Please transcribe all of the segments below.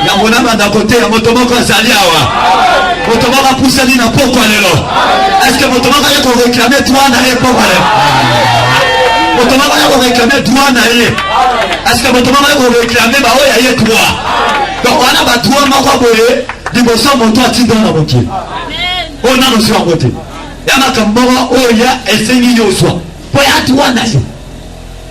yango na banda koteya moto moko azali awa moto moko apusani na pokwa lelo eske moto moko aye koreklame droit na ye pokwa lelo moto moko aye koreklame droit na ye eske moto moko aye koreklame baoyo ya ye droit donc wana badroit moko boye liboso moto atinda na mokili oyo nano ozwi yango te ya makambo moko oyo ya esengi yo ozwa mpo ya droit na yo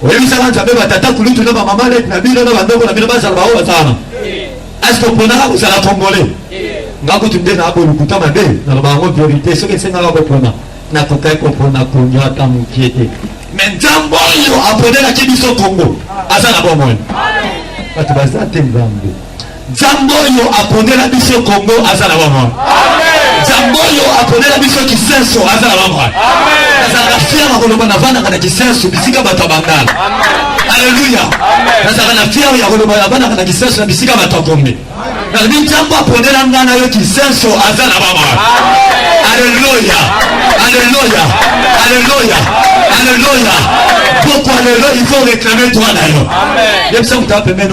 Oyebisaka Nzambe ba tata kulutu na ba mama net na bino na ba ndoko na bino bazala ba oyo bazala. Est-ce que oponaka kozala congolais? Nga kutu nde na abo lokuta mabe na loba yango verite soki esengaka kopona na kokai kopona konywa ata mokie te. Mais Nzambe oyo aponelaki biso Congo aza na bomoi. Bato baza te Nzambe. Nzamb'oyo aponela biso Congo aza na bomoi. Nzamb'oyo aponela biso Kisenso aza na bomoi. Nazalaka fier na koloba navandaka na Kisenso bisika bato ya Bangala. Aleluya. Nazalaka na fier ya koloba navandaka na Kisenso na bisika bato ya Gombe. Nalobi Nzambo aponela ngai na yo Kisenso aza na bomoi. Aleluya. Aleluya. Aleluya. Aleluya. Poko aleluya il faut réclamer droit na yo. Yebisa moto apembeni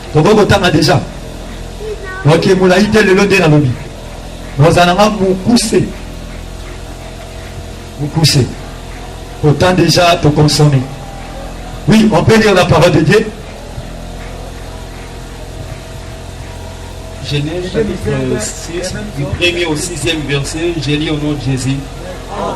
Tokoki kotanga deja oke molai te lelo nde nalobi ozala nga mokuse mokuse autant déjà te consommer oui on peut lire la parole de Dieu Genèse chapitre 6, du premier au sixième verset, j'ai lu au nom de Jésus. Ah,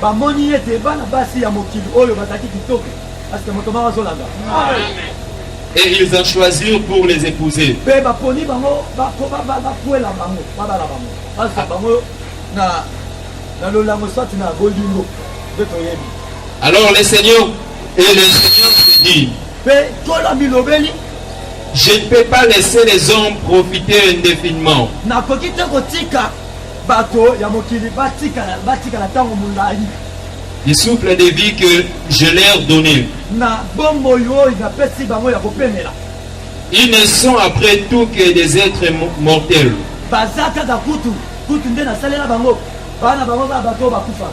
Bamoni ete bana basi ya mokili oyo bazalaki kitoko, parce que moto moko azolanda. Et ils en choisirent pour les épouser. Pe baponi bango, bakwela bango, babala bango, bazwa bango na na lolango soit na bolingo, nde toyebi. Alors le Seigneur et le Seigneur se dit. Pe tola bilobeli. Je ne peux pas laisser les hommes profiter indéfiniment. Nakoki te kotika Bato ya mokili batikala batikala ntango molai. Le souffle de vie que je leur donnais. Na bomoi oyo napesi bango ya kopemela. Ils ne sont après tout que des êtres mortels. Baza kaka kutu kutu nde nasalela bango bana bango kaka bato oyo bakufa.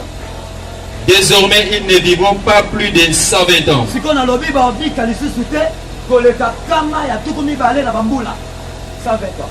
Désormais, ils ne vivront pas plus de 120 ans. sikoyo nalobi babika lisusu te koleka kama ya tuku mibale na bambula 120 ans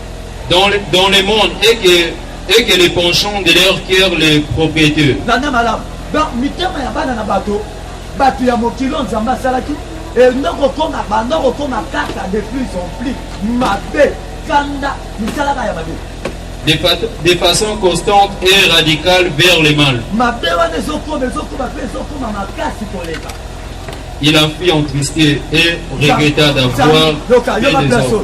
dans le, dans le monde et que, et que les penchants de leur cœur les propriétaires. Landa malamu. Donc mitema ya bana na bato bato ya mokili oyo nzambe asalaki enda kokoma banda kokoma kaka de plus en plus mabe kanda misalaka ya mabe de, fa de façon constante et radicale vers le mal. mabe wana ezokoma ezokoma mpe ezokoma makasi koleka Il a fui entristé et regretta d'avoir Yoka, yoka, fait des yoka, œuvres.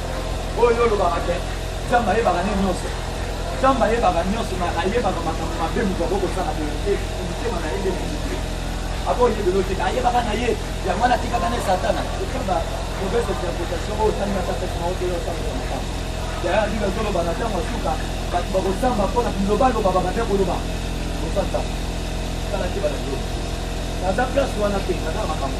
Oyo yo olobaka ke Nzambe ayebaka ne nyonso. Nzambe ayebaka nyonso, ma ayebaka makambo mabe moto akoki kosala boye te, motema na ye nde moto te. Akoyebela yo te, ayebaka na ye, yango wana atikaka ne Satana. Tika ba mauvaise interpretation oyo otali na tata kima oteya otambola makambo. Yaya ndika ezoloba na ntango ya suka, bato bakosamba mpo na bilobaloba babanda koloba. Osanta, tala te bana yo. Naza place wana te, naza makambo.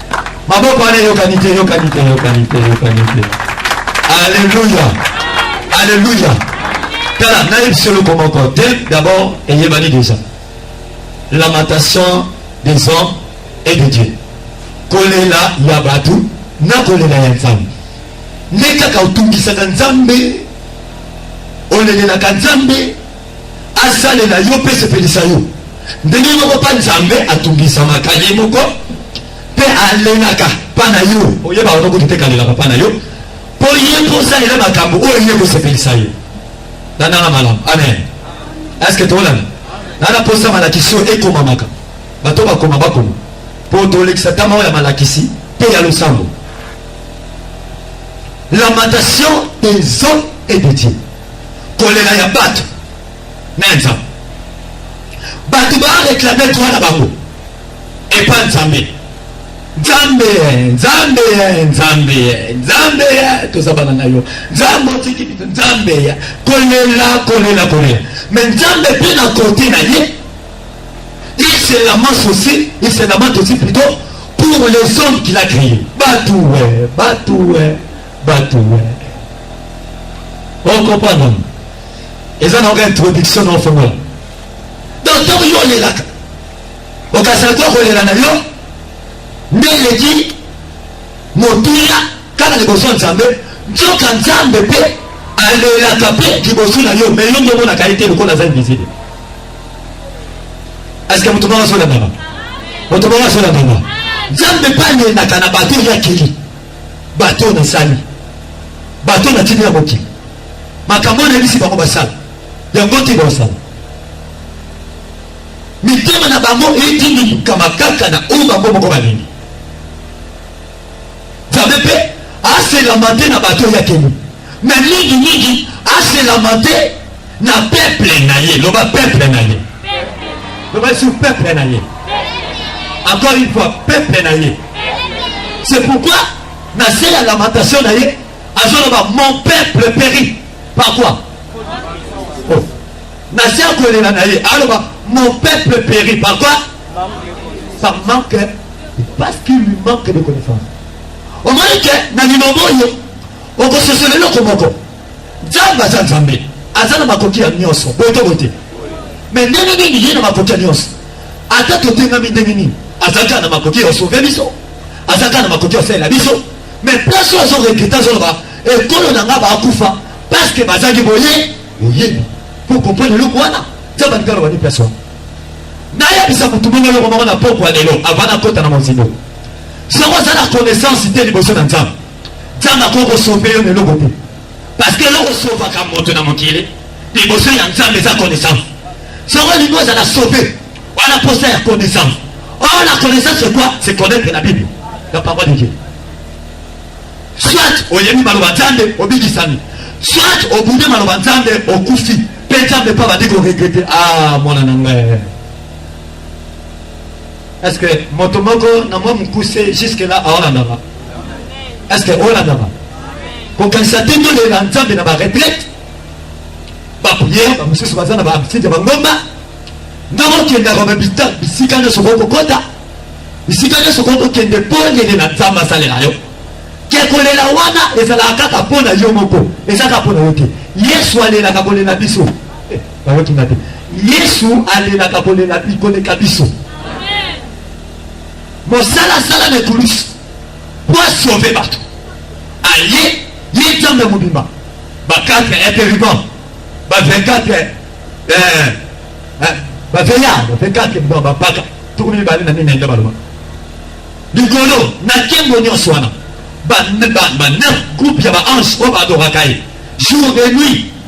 Maboko wana eyokani te, eyokani te, eyokani te, eyokani te. Alléluia. Alléluia. Tala, nayebi se eloko moko te, d'abord eyebani déjà. Lamentation des hommes et de Dieu. Kolela ya bato na kolela ya Nzambe. Nde kaka otungisaka Nzambe, olelelaka Nzambe Asalela yo mpe esepelisa yo. Ndenge moko mpa Nzambe atungisamaka ye moko mpe alelaka mpa na yo. Oyeba wana kutu te kalelaka mpa na yo mpo ye mpo osalela makambo oyo ye kosepelisa ye. Landanga malamu. Amen. Eske tolanda? Nana posa malakisi oyo ekomamaka. Bato bakoma bakoma. Mpo tolekisa tama oyo ya malakisi mpe ya losambo. Lamentation des hommes et de Dieu. Kolela ya batu na Nzambe. Batu ba reclamer droit na bango epa Nzambe. Nzambe, Nzambe, Nzambe, Nzambe, toza bana na yo. Nzambe otiki bitu, Nzambe, kolela, kolela, kolela. Mais Nzambe pe na kote na ye, il se lamente aussi, il se lamente aussi plutôt pour les hommes qu'il a créés. Batu, batu, batu. Batu we. Oko pardon. Eza na oka introduction na ofongola. Donc tango yo olelaka. Okasala to kolela na yo. Nde eleki motuya kaka liboso ya Nzambe. Nzoka Nzambe mpe alelaka mpe liboso na yo mais yo nde omonaka ye te lokola aza invisible eske moto moko azolandaka moto moko azolandaka nzambe mpe alelaka na bato ya kili Bato oyo nasali, bato oyo natindi na mokili, makambo oyo nayebisi bango basala, yango te basala. Mitema na bango etindikama kaka na oyo bango moko balingi. Nzambe mpe aselama te na bato oyo akeli, me mingimingi aselama te na peuple na ye loba peuple na ye loba sur peuple na ye encore une fois peuple na ye c'est pourquoi na se ya lamentation na ye azoloba mon peuple péri par quoi oh. na se ya kolela na ye aloba mon peuple péri par quoi par manque parce qu'il lui manque de connaissance omoni ke na liloba oyo okososola eloko moko Nzambe aza Nzambe, aza na makoki ya nyonso, boye to boye te. Me ndenge nini ye na makoki ya nyonso, ata totengami ndenge nini, aza kaka na makoki ya osove biso, aza kaka na makoki ya osalela biso. Me place oyo azoregrete, azoloba ekolo na ngai bakufa parceke bazalaki boye boyebi po comprendre eloko wana. Nzambe alingi aloba nini place wana? nayebisa motu bongo eloko moko na pokwa lelo avant nakota na mozindo soko aza na connaissance te liboso na nzambe Nzambe akoki kosove yo na eloko te parce que eloko esovaka moto na mokili liboso ya Nzambe eza connaissance. Soko olingi ozala sove, wana posa ya connaissance. Or oh, la connaissance c'est quoi? C'est connaître la Bible, la parole de Dieu. Soit oyebi maloba Nzambe obikisami, soit obunde maloba Nzambe okufi mpe Nzambe mpe abandi koregrete ah mwana na ngai Est-ce que moto moko na mwa mokuse jusque là aolandama? Est-ce que olandama? kokanisa te tolela nzambe na baretraite bapriere bamosusu baza na bahabitude ya bangomba ndenge okendaka babita bisika nyonso okoki kokota bisika nyonso okoki kokende mpo olelela nzambe asalela yo ke kolela wana ezalaka kaka mpo na yo moko eza kaka mpo na yo te yesu alelaka kolela biso eh, bayokinga te Yesu alelaka kolela bi koleka biso. Mosala asala na ekulusu po asauve bato aye ye nzambe mobimba ba 4 interrubant ba 24 eh, eh, baveya ba 24 ba bapaka tuku mibale na minende baloba likolo na nkembo nyonso wana ba neuf groupe ya baange oyo baadoraka ye jour de nuit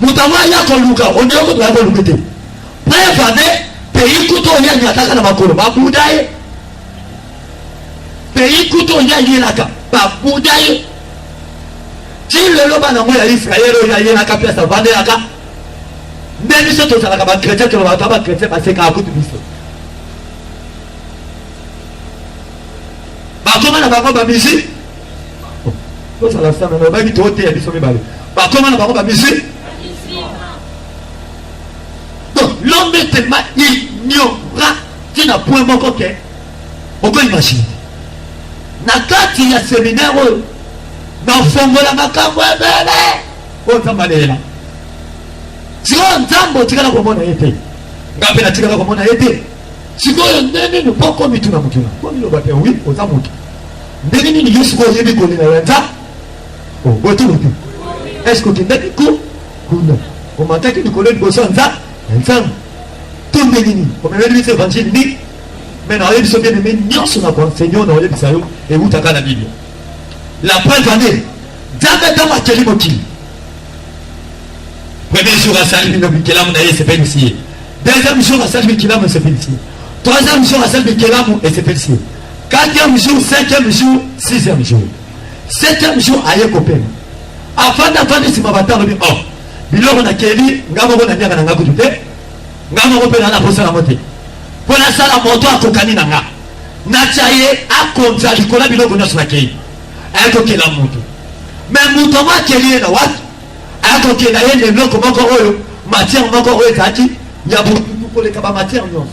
Moto yango aya koluka ondire kutu baya koluka te preuve ane pays kutu oyo yangi ataka na makolo babuda ye pays kutu oyo yangi elaka babuda ye ti lelo bana yango ya israel oyo yayelaka place avandelaka nde biso tozalaka bakretien tolobaka ta bakretien basekaka kutu biso bakoma na bango bamisi tozala sana na bayebi tooteya biso mibale bakoma na bango bamisi donc l'homme est tellement ignorat ti na point moko ke oko imagine na kati ya seminaire oyo nafongola makambo ebele oyo nzambe aleela sikoyo nzambe otikala komona ye te nga mpe natikala komona ye te sikoyo nde nini mpo komituna motuna komiloba te wi oza moto Ndenge nini yo sikoyo oyebi kolela ya nza obotolo te eske okendaki ko kuna omataki likolo liboso ya nza ya nzambe to ndenge nini omemeli biso evanjili nini me naoyebi biso bien aime nyonso na koenseigno na oyebisa yo ewutaka na biblia la preuve ane nzambe ntango akeli mokili premier jour asali bino bikelamu na ye esepelisi ye deuxième jour asali bikelamu esepelisi ye troisième jour asali bikelamu esepelisi ye Quatrième jour, cinquième jour, sixième jour. Septième jour, aye kopema. Afanda afanda sima batalo bi oh. Biloko na keli nga moko na nyaka na nga kutu te. Nga moko pe na na posa na mote. Mpo na sala moto akokani na nga. Na tia ye akonza likola biloko nyonso na kei. Aye kokela moto. Me moto yango akeli ye na wapi? Aye kokela ye na eloko moko oyo matière moko oyo ezalaki ya butu koleka ba matière nyonso.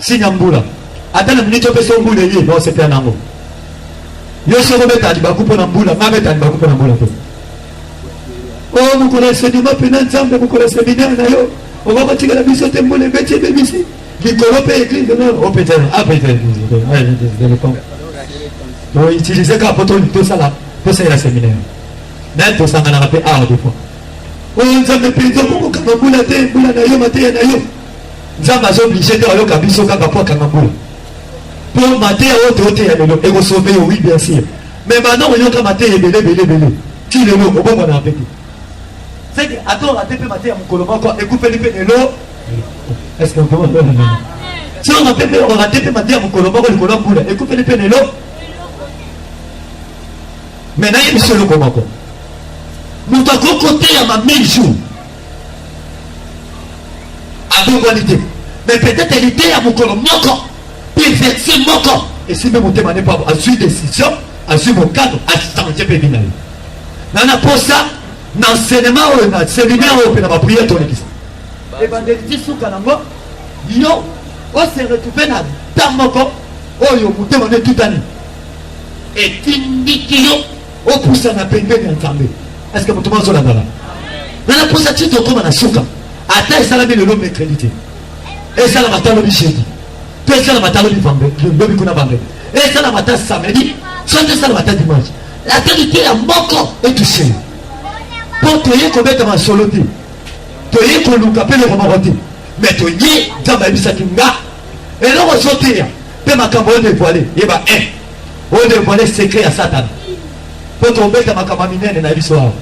Signe ya mbula. Ata na minute opesi yo mbula eye, baosepela na yango. Yo soki obeta libaku mpo na mbula, ngai abeta libaku mpo na mbula te. Oh, mokolo ya sedima mpe na Nzambe, mokolo ya seminaire na yo, okoki kotikela biso te mbula ebeti ebebisi. likolo mpe eglise nor opeta apeta toutilize kaka mpo tosala tosalela seminaire naye tosanganaka mpe awa defoi oyo nzambe mpenza okokokanga mbula te mbula na yo mateya na yo Nzambe azo oblige te ayoka biso kaka po akanga mbula. Po mateya oyo toyoteya lelo ekosove yo, oui bien sûr. Mais banda oyoka mateya ebele ebele ebele ti lelo obongwana mpe te. Seke atonga te mpe mateya mokolo moko ekufeli mpe lelo. Est-ce que vraiment ndio ndio? Sio na pepe ona tepe mateya mokolo moko likolo ya mbula ekufeli mpe lelo. Mais nayebi solo komako. Moto akoki koteyama 1000 jours abongwani te mais peut-être liteya mokolo moko perfection moko esimbi motema ne pabo azwi décision azwi mokano achange mpe bina ye na na posa na enseignement oyo na séminaire oyo mpe na baprière tolekisa ebandeli ti suka nango yo ose retrouve na ta moko oyo motema ne etutani etindiki yo Opusana pembeni ya Nzambe. Eske moto moko azolandana? Na naposa ti tokoma na suka, ata esalami lelo mercredi te, esalama ata lobi jeudi, to esalama ata lobi lobi kuna vendredi, esalama ata samedi, soki esalama ata dimanche, ata liteya moko etuse yo, mpo toye kobeta masolo te, toye koluka mpe eloko moko te, me toye Nzambe ayebisaki nga eloko ozoteya mpe makambo oyo devoile yeba 1 Bo devoile secret ya satana po tobeta makambo ya minene na biso awa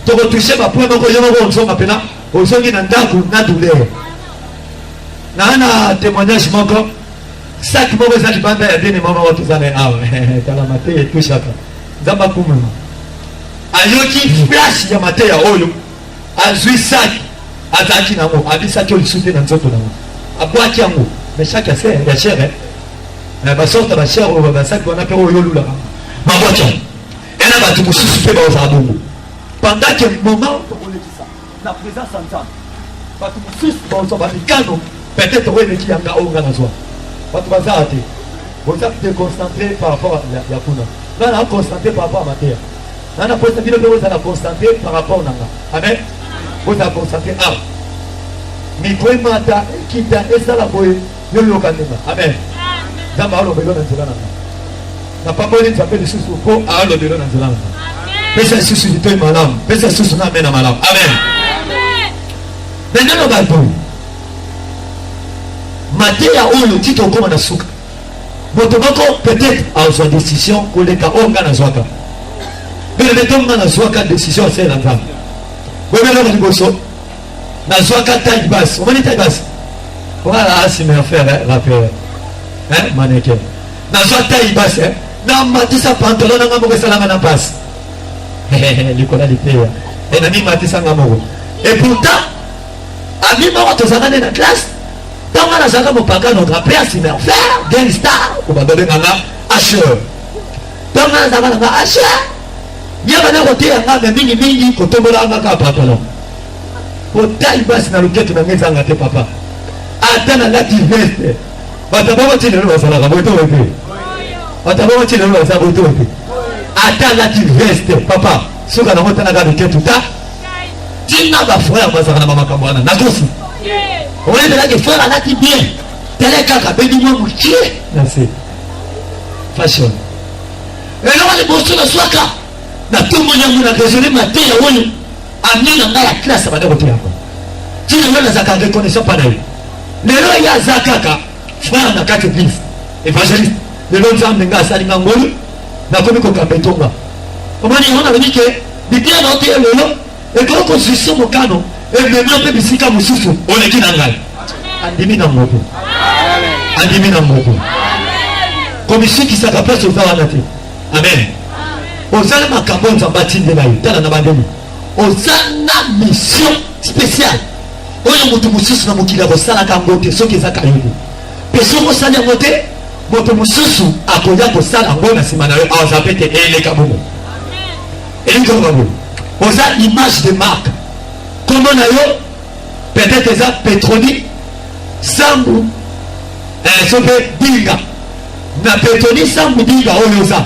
tokotouche bapoint moko yo moko ozonga mpena ozongi na ndako na douleur naa na témoignage moko saki moko eza libanda ya dene mama wa toza na ye awa tala mateya etouchaka nzambe akumama ayoki flash ya mateya oyo azwi saki azalaki na yango abisaki yo lisusu te na nzoto na yango abwaki yango mais saki ya ser ya chere na basorte bachere oyo basaki wana mpe oyo olulaka babwaki yango ena bato mosusu mpe baozala bongo pendant ke moment tokolekisa na présence ya nzambe bato mosusu baozwa bamikano peut-être oyo eleki yanga oyo nga nazwa bato bazala te boza déconcentré par rapport ya kuna nga na concentré par rapport ya mateya Nana posa bino nde bozala concentre par rapport na nga. Amen. Bozala concentre awa. Ah. Mikro emata, ekita, esala boye, yo yoka ndima. Amen. Nzambe aloba elo na nzela na nga. Napamboli Nzambe lisusu mpo aloba elo na nzela na nga. Pesa lisusu litoi malamu, pesa lisusu na amena malamu. Amen. Nandelo bato mateya oyo tito okoma na suka moto moko peut-être azwa decision koleka oyo ngai nazwaka beleto ngai nazwaka decision asele na nzambe boyebi eloko liboso nazwaka taille basse omoni taille basse voilà asime ah, affaire rappeur maneke nazwa taille basse namatisa pantalon na ngai moko esalanga na mpasi likola liteya e namimatisa ngai moko et pourtant ami moko tozalaka nde na classe Tango nga nazalaka mopakano grand père c'est mon frère Gang Star ou ba bébé nga Asher. Tango nga nazalaka na nga Asher. Ye bana koteya nga mais mingi mingi kotombola nga kaka pantalon. Otai basi na loketo na nga ezanga te papa. Ata na lati veste. Bato bango ntina lelo bazalaka boye to boye te. Bato bango ntina lelo bazalaka boye to boye te. Ata lati veste papa. Suka na ngo tana ka loketo ta. tina ba frère bazaka na bamakambo wana na kofu oyebelaki frère alati bien tele kaka bebi mwa mokie merci fashion eloko liboso nazwaka na ntongo yango na raisonne mateya oyo ami na ngai ya classe abanda koteya yango tina yo nazaka reconnaissant mpa na ye lelo ye aza kaka Frère na kati eglise evangeliste lelo nzambe nga asali nga ngolu nakomi kokamba etonga omoni yango nalobi ke biblia na oteya lelo ekoki kozwisa mokano emema mpe bisika mosusu oleki na ngai andimi na moko andimi na moko komisukisaka place oza wana te amen ozali makambo nzambe atindela yo tala na bandemi Oza na mission speciale oyo moto mosusu na mokili akosalaka yango te soki eza kayoko mpe soki osali yango te moto mosusu akoya kosala yango na nsima na yo aza mpe te eleka bongo elingi koloba boye oza image de marque nkombo na yo peut-être eza petroni sambu eh, so mpe dinga na petroni sambu dinga oyo oza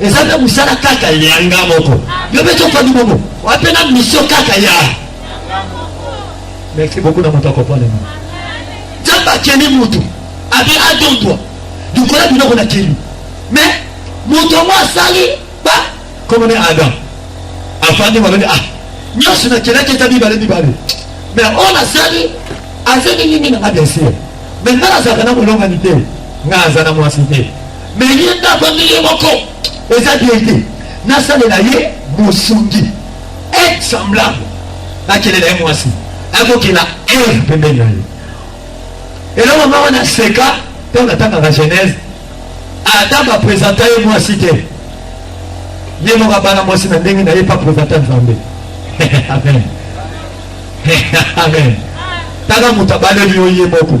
Eza pe musala kaka ya nga moko. Yo pe to fandi bongo. Wape na mission kaka ya. Merci beaucoup na moto akopona ni. Jamba keni mutu. Abi adondwa. Dukola bino kona keni. Mais moto yango asali ba comme ne adam afandi malobi ah nyonso nakelaki eza mibale mibale mais oyo nasali azeli nini nanga bien sûr mais ngai nazalaka na molongani te ngai aza na mwasi te Mais ye nde avandi ye moko. Eza bien te. Nasalela ye bosungi. Aide semblable. Nakelela ye mwasi. Akokela Eve pembeni na ye. Eloko moko na seka ntango natangaka Genèse ata bapresenta ye mwasi te ye moko abala mwasi na ndenge na ye pa presenta nzambe amen amen tala moto abaleli yo ye moko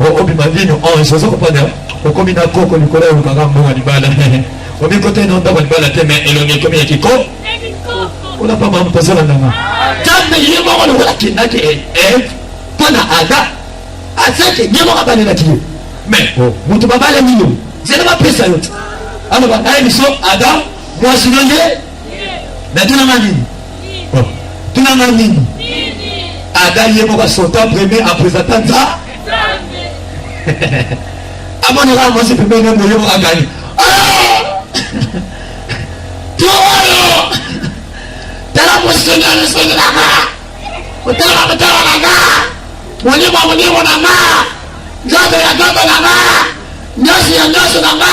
Oko bima vino oh esozo kopanda okomi na koko likolo ya lukanga mbongo libala omi kota ino ndako libala te mais elongi ekomi ya kiko ona pa mamu tozola ndanga tambe ye moko lokola kindaki e eh, eh, pana ada asaki ye moko abalelaki ye mais oh. moto babalani yo zela bapesa yo te aloba naye biso ada mwasi no ye Mais tuna nga nini? Oh, tuna nga nini? Ada ye moko asota premier apresenta nza amonaka mwasi pembeni ya moyo moko akani towayo tala mosengeli sengi na nga otala motala na nga molimo molimo na nga nzoto ya nzoto na nga nyonso ya nyonso na nga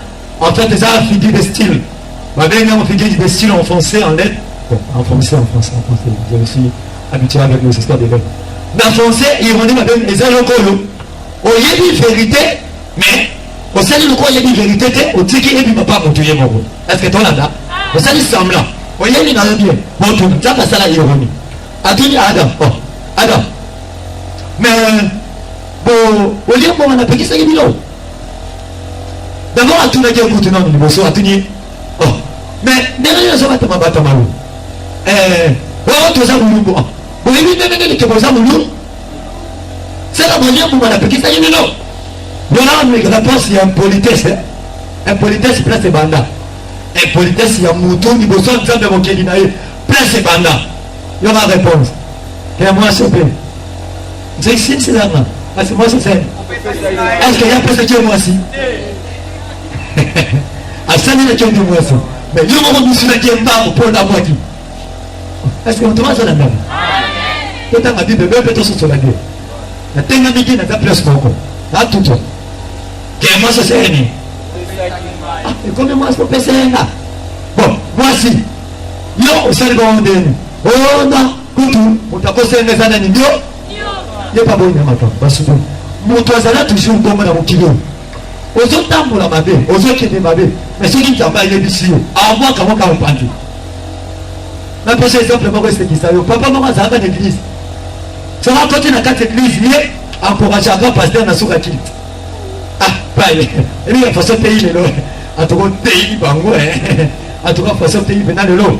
En fait, eza figure de style. Babengi yango figure de style en français, en lettres. Bon, en français, en français, en français. Je me suis habitué avec nos histoires de lettres. Mais en français, ironie, babengi eza yoko yo. Oyebi vérité, mais osali lokola oyebi vérité te, otiki ebi papa moto ye moko. Est-ce que tolanda? Osali semblant. Oyebi na yo bien. Bon, tu nzambe asala ironie. Atuni Adam. Oh, Adam. Mais, bon, olie mbongo napekisaki bino. D'abord atunaki ye kutu nanu liboso atuni ye oh mais ndenge nini oza batama batama lo eh wao toza mulumbu ah boyebi ndenge nini tokoza mulumbu seka bolie mbuma napekisaki bino yona amekaka place ya impolitesse eh? impolitesse place ebanda impolitesse ya mutu liboso ya nzambe mokeli na ye place ebanda yona réponse ya mwasi mpe Jesse silama kasi mwasi zen eske ye apesaki ye mwasi asalelaki yo nde mwasi me yo moko misilaki ye mbangu mpo ndabwaki eske moto mazala ndambo totanga bible bee mpe tososola nde natengamiki naza place moko natuto ke mwasi oseyeni ekomi mwasi opesa ye nga bon mwasi yo osali bango ndeni onda kutu moto akosenga eza nani ndio ye pa boyina makambo basusu moto azala toujours bongo na mokili oyo ozotambola mabe ozokende mabe mais soki nzambe ayebisi yo amwaka moko aopanzi napesa exemple moko esekisa yo papa moko azalaka na eglise soki akoti na kati eglise ye encourageaka paster na suka kili ah paye ebi ya façon teyi lelo atuka oteyi bango atuka façon teyi pena lelo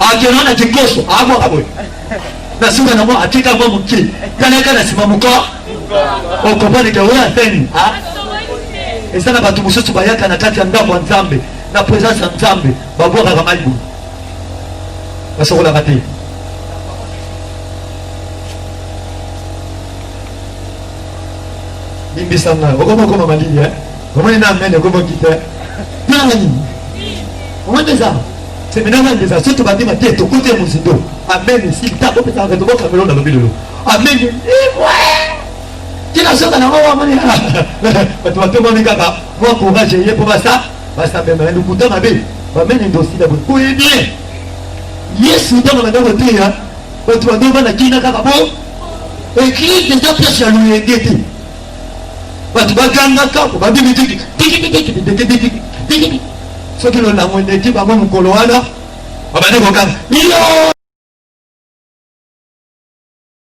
Akenda na kikoso abwaka boye na nsima nango atika mwa moke talaka na nsima moko okomani ke oyo aseni eza na bato mosusu bayaka na kati ya ndako ya nzambe na presence ya nzambe babwakaka mai boye basokolaka te limbisa ngai okoma okoma malili omoni na amene okomoki te nani omoni eza Seminaire na ndeza soki tobandi mate tokote mozindo amen silta bopesaka tobo kamelo na lobi lelo amen imwe tina soka nango wamoni bato batombami kaka mwa courage eye mpo basa basambema na lokuta mabe bameni ndosila boye boye bien yesu ntango banda koteya bato bando bana kina kaka bo eglise eza place ya loyenge te bato bagangaka po babimi diki soki lolango eleki bango mokolo wana babandi koganga